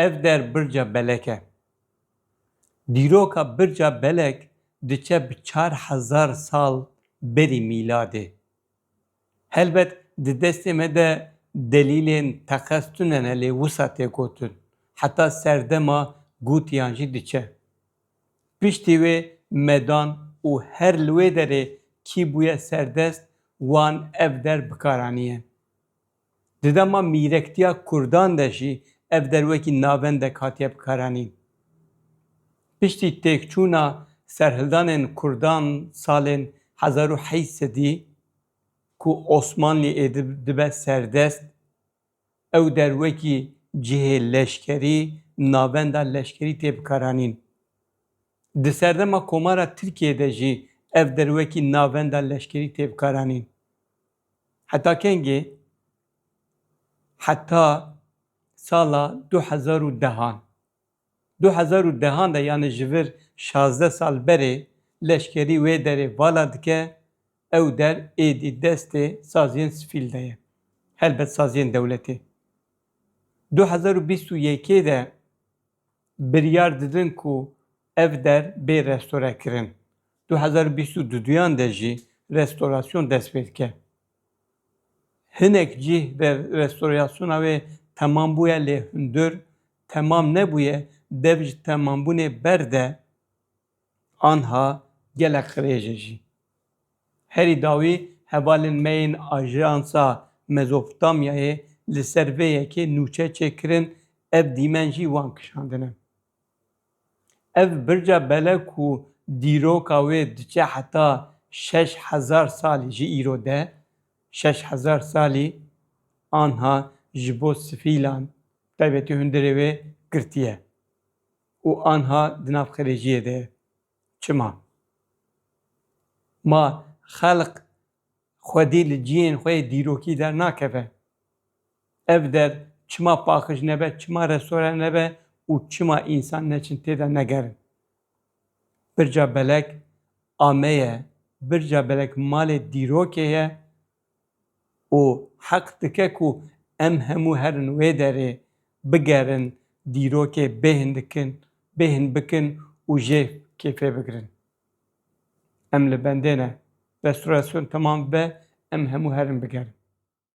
Ev der birca belek e. Dîroka birca belek diçe bi çar hezar sal berî mîladê. Helbet di destê me de delîlên teqez tune ne lê wisa tê gotin, heta serdema gotiyan jî diçe. Piştî wê medan û her li wê derê kî bûye serdest wan ev der bikaranîye. Di dema mîrektiya Kurdan de jî ev der wekî navendek hatiye bikaranîn. Piştî têkçûna serhildanên Kurdan salên hezar û heyî sedî ku Osmanlî Êdib dibe serdest, ew der wekî cihê leşkerî, navenda leşkerî tê bikaranîn. Di serdema Komara Tirkiyê de jî ev der wekî navenda leşkerî tê bikaranîn. Heta kengê? Heta sala du hezar û dehan. Du hezar û dehan de yanî ji vir şazdeh sal berê leşkerî wê derê vala dike, ew der êdî destê saziyên sivîl de ye, helbet saziyên dewletê. Du hezar û bîst û yekê de Biryar didin ku ev der bê restorekirin. Du hezar û bîst û du duyan de jî restorasyon dest pê dike. Hinek cîh de restorasyona wê temam bûye lê hundir temam nebûye, dev ji temambûnê ber de Anha gelek qirêje jî. Herî dawî hevalên me yên Ajansa Mezopotamyayê li ser vê yekê nûçe çêkirin, ev dîmen jî wan kişandine. Ev birca bele ku dîroka wê diçe heta şeş hezar salî ji îro de, şeş hezar salî anha ji bo sifîlan, bi taybetî hundirê wê girtiye. û anha di nav xerêjiyê de ye. Çima? Ma xelq xwedî li ciyên xwe yê dîrokî dernakeve. Ev der çima paxij nebe, çima restore nebe û çima însan neçin tê de negerin? Birca belek ameye, birca belek malê dîrokê ye û heq dike ku em hemû herin wê derê, bigerin, dîrokê bêhn dikin, bêhn bikin û jê kêfê bigirin. Em li bendê ne. Restorasyon temam bibe, em hemû herin bigerin.